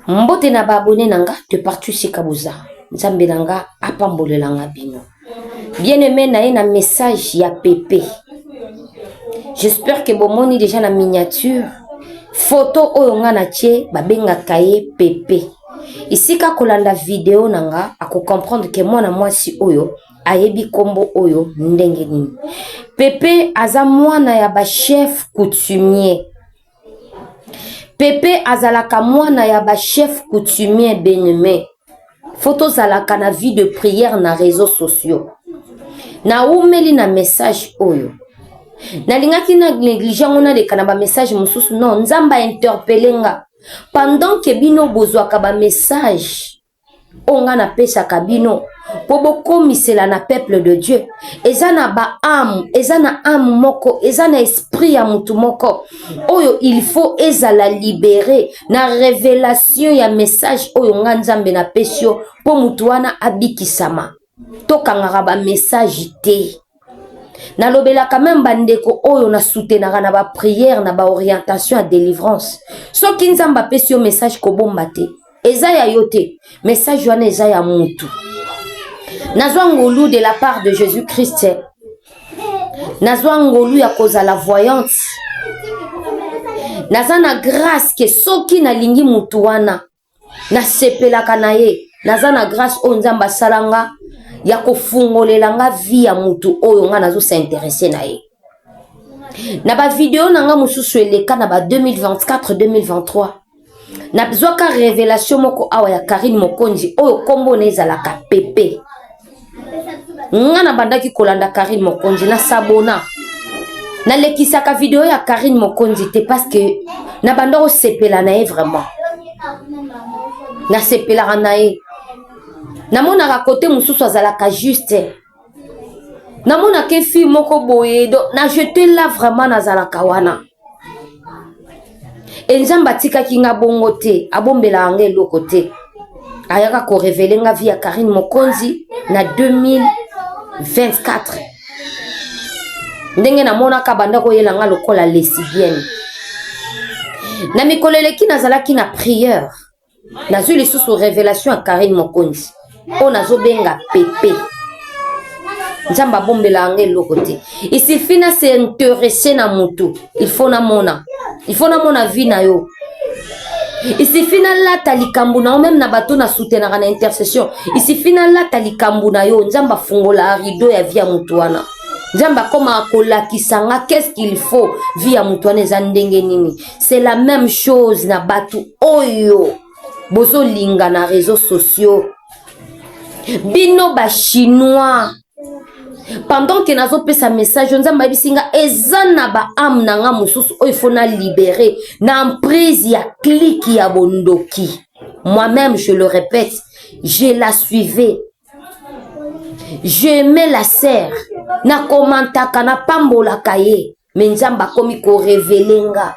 Mbote na ba abonne na nga de partout sika boza. Nzambe na nga apambolela nga bino. Bien aimé na ye na message ya Pepe. J'espère que bomoni déjà na miniature photo oyo nga na tie babengaka ye Pepe. Isika kolanda video na nga ako comprendre que mwana mwasi oyo ayebi kombo oyo ndenge nini. Pepe aza mwana ya ba chef coutumier. Pepe azalaka mwana ya ba chef coutumier beneme faut tozalaka na vie de prière na réseaux sociaux naumeli na message oyo nalingaki na néglige yango naleka na bamessage mosusu non nzambe ainterpele nga pendant ke bino bozwaka bamessage oyo ngai napesaka bino mpo bokomisela na peuple de dieu eza na baame eza na ame moko eza na esprit ya motu moko oyo il faut ezala libere na revelation ya message oyo ngai nzambe napesi yo mpo motu wana abikisama tokangaka bamessage te nalobelaka meme bandeko oyo na soutenaka na bapriere na baorientation ya délivrance soki nzambe apesi yo message kobomba te eza ya yo te message wana eza ya mutu nazwa ngolu de la part de jésus christ nazwa ngolu ya kozala voyante naza na grâce ke soki nalingi mutu wana nasepelaka na ye naza na grâce oyo nzambe asala nga ya kofungolela nga vie ya mutu oyo nga nazo s'interesse na ye na bavideo na nga mosusu eleka na ba 2024 2023 nazwaka revelation moko awa ya karine mokonzi oyo nkombo na ezalaka pepe nga nabandaki kolanda karine mokonzi na sabona nalekisaka video ya karine mokonzi te parce que nabanda kosepela na ye vraiment nasepelaka na ye namonaka kote mosusu azalaka juste namonaka efi moko boye do na jete la vraiment nazalaka wana e nzambe atikaki nga bongo te abombelaka nga eloko te ayaka korevele nga vie ya karine mokonzi na 2024 ndenge namonaka banda koyela nga lokola lesibienne na mikolo eleki nazalaki na priere Nazui lisusu revelation ya Carine Mokonzi oyo nazo benga Pepe. Nzambe abombela yanga eloko te. Il suffit na se intéresser na mutu, il faut na mona. Il faut na mona vie na yo. Il suffit na lata likambo na yo même na bato na soutenaka na intercession. Il suffit na lata likambo na yo, Nzambe afungola rideau ya vie ya mutu wana. nzambe akomaka kolakisa nga qu'est-ce qu'il faut vie ya moto wana eza ndenge nini c'est la même chose na batu oyo bozolinga na réseaux sociaux bino ba chinois pendant ke nazopesa message nzambe ayebisi nga eza na baame na nga mosusu oyo ifo na libere na emprise ya klike ya bondoki moi-même je le répète je la suivais j'aimais la serre nakomantaka napambolaka ye mais nzambe akomi korevele nga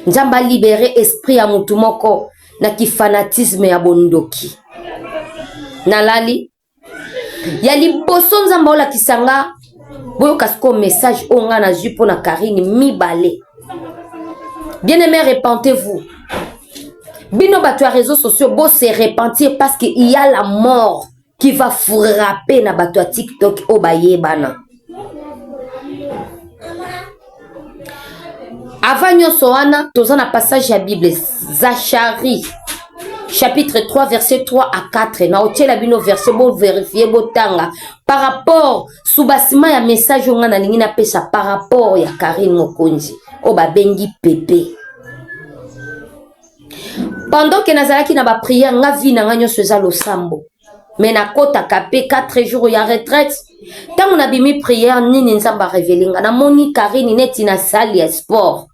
nzambe alibere esprit ya motu moko na kifanatisme ya bondoki nalali ya liboso nzambe aolakisa nga boyoka sikoyo message oyo ngai nazwi mpo na karine mibale bien aimé repentez vous bino bato ya réseau sociaux bose repentir parce que il y a la mort qui va frapper na bato ya tiktok oyo bayebana avant nyonso wana toza na passage ya bible zachari chapitre 3 verset 3 à 4 na otyela bino verset boverifie botanga par rapport subasima ya message oyo ngai nalingi napesa par rapport ya karine mokonzi oyo babengi pepe pendant que nazalaki na ba prière nga vie na nga nyonso eza losambo mais nakotaka mpe 4 jours ya retraite ntango nabimi prière nini nzambe arevele nga namoni karine neti na salle ya sport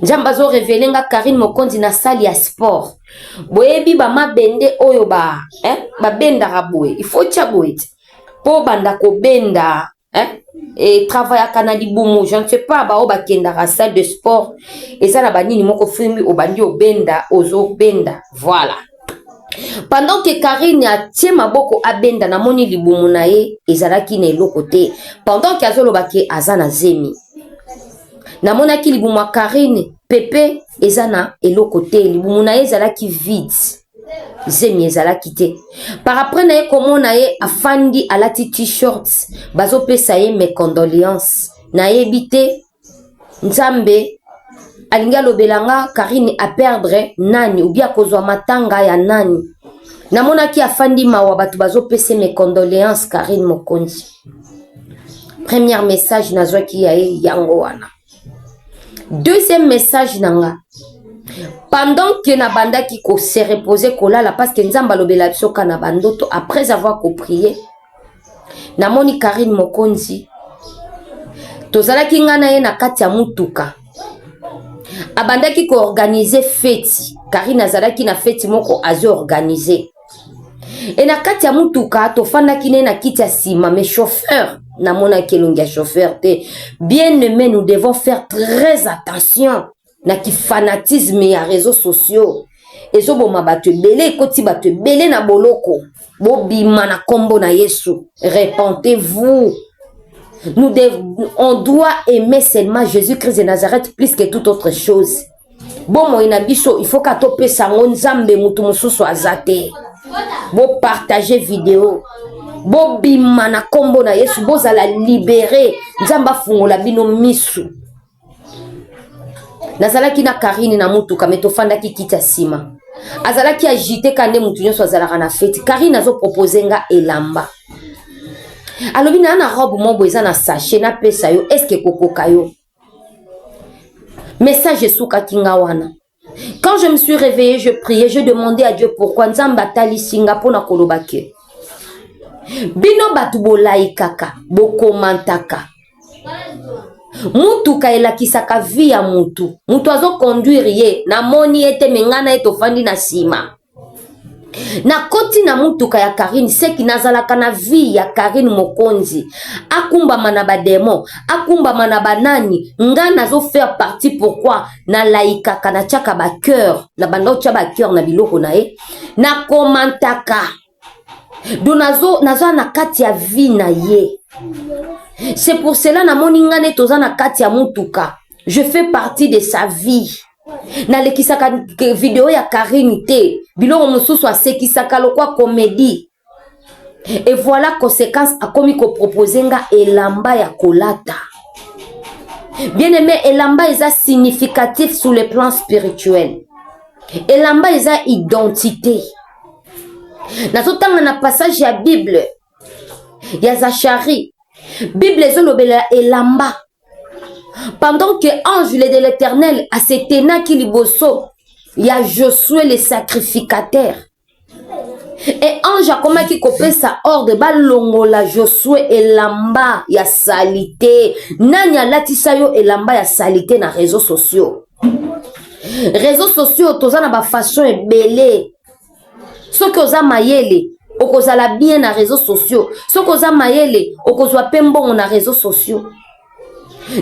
nzambe azorevele nga karine mokonzi na sale ya sport boyebi bamabende oyo ba, eh, babendaka boye ifo tya boye te mpo obanda kobenda hein? et travaillaka na libumu je ne sais pas baoyo bakendaka salle de sport eza na banini moko fimbi obandi obenda ozobenda voilà pendant que karine atie maboko abenda namoni libumu na ye ezalaki na eloko te pendant ke azoloba ke aza na zemi namonaki libumu ya karine pepe eza na eloko te libumu na ye ezalaki vide zemi ezalaki te par après na ye komona ye afandi alati t-shirt bazopesa ye mes condoléances nayebi te nzambe alingi alobela nga karine aperdre nani obi akozwa matanga ya nani namonaki afandi mawa bato bazopesa mes condoléances karine mokonzi première message nazwaki ya ye yango wana deuxième message na nga pendant que nabandaki ko se reposer kolala parce que nzambe alobela biso ka na bandoto après avoir koprie namoni karine mokonzi tozalaki ngai na ye na kati ya motuka abandaki koorganize feti karine azalaki na feti moko azoorganize e na kati ya motuka tofandaki ne na kiti ya nsima mais chauffeur namonaki elongi ya chauffeur te bien aime nous devons faire très attention na kifanatisme ya réseaux sociaux ezoboma bato ebele ekoti bato ebele na boloko bobima na nkombo na yesu repentez-vous nous dev... on doit aimer seulement jésus-christ de nazareth plus que toute autre chose bomoi na biso il faut ka topesa yango nzambe motu mosusu aza te bopartage video bobima na nkombo na yesu bozala libere nzambe afungola bino misu nazalaki na karine na motuka me tofandaki kiti ya nsima azalaki agite ka nde motu nyonso azalaka na feti karine azopropose nga elamba alobi naa na robe mobo eza na sachet napesa yo eske ekokoka yo Message esukaki nga wana. Quand je me suis réveillée, je priais, je demandais à Dieu pourquoi Nzambe atalisi nga pona koloba ke. Bino batu bolaikaka, bokomantaka. mutuka elakisaka vie ya mutu mutu azoconduire ye namoni ye te me ngai na ye tofandi na nsima nakoti na motuka ya karine seki nazalaka na vie ya karine mokonzi akumbama na bademon akumbama na banani nga nazo faire partie pourkui nalaikaka natiaka bacoeur na banda otya bacoeur na biloko na ye nakomantaka do nazo naza na kati ya vie na ye c'est pour cela namoni nga neti oza na kati ya motuka je fais partie de sa vie nalekisaka video ya karine te biloko mosusu asekisaka lokwa komedi e voilà conséquence akomi kopropose nga elamba ya kolata bien aime elamba eza significatif sur le plan spirituel elamba eza identité nazotanga na passage ya bible ya zachari bible ezolobela elamba pendant que ange de l'éternel asetenaki liboso ya josue le sacrificateur e ange akomaki kopesa ordre balongola josue elamba ya salite nani alatisa yo elamba ya salite na réseau sociaux réseau sociaux toza na bafaçon ebele soki oza mayele okozala bien na réseau sociaux soki oza mayele okozwa mpe mbongo na réseau sociaux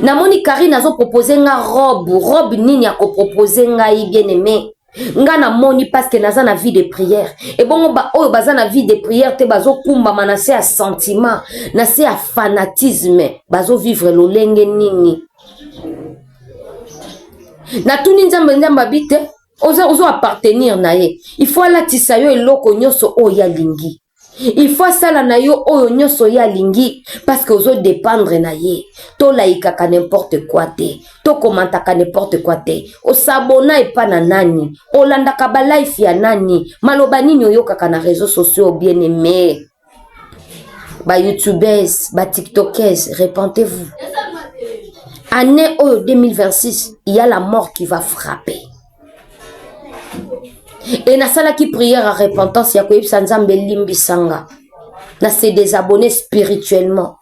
namoni karine azopropose nga robe robe nini akopropose ngai bien aime nga namoni parceke naza na vie de prière ebongo baoyo baza na vie de prière te bazokumbama na se ya sentiment na se ya fanatisme bazovivre lolenge nini natuni nzambe nzambe abi te oza ozo appartenir na ye il faut alatisa yo eloko nyonso oyo ye alingi il faut asala na yo oyo nyonso ye alingi parce que ozo dépendre na ye tolayikaka n'importe quoi te tokomantaka n'importe quoi te osabona epa na nani olandaka balife ya nani maloba nini oyokaka na réseau sociaux bien aimé ba youtubeuses ba tiktokeuses repentez-vous année oyo 2026 il y a la mort qui va frapper e nasalaki prière ya repentance ya koyebisa nzambe elimbisa nga na se désabonner spirituellement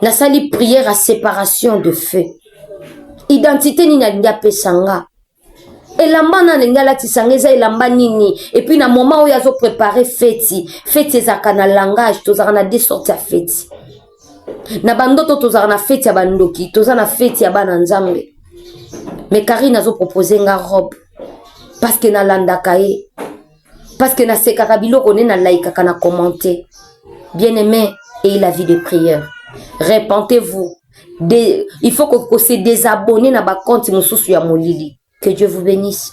nasali prière ya séparation de feu identité nini alingi apesa nga elamba na alingi alatisa nga eza elamba nini epuis na moment oyo azo prepare feti feti ezalaka na langage tozalaka na de sorte ya feti na bandoto tozalaka na feti ya bandoki toza na feti ya bana nzambe me karine azo propose nga robe parceke nalandaka ye parceke nasekaka biloko nde nalaikaka na commente bien aime eye la vie de prière repentez-vous de il faut ko, ko se desabonner na ba compte mosusu ya molili que Dieu vous benisse.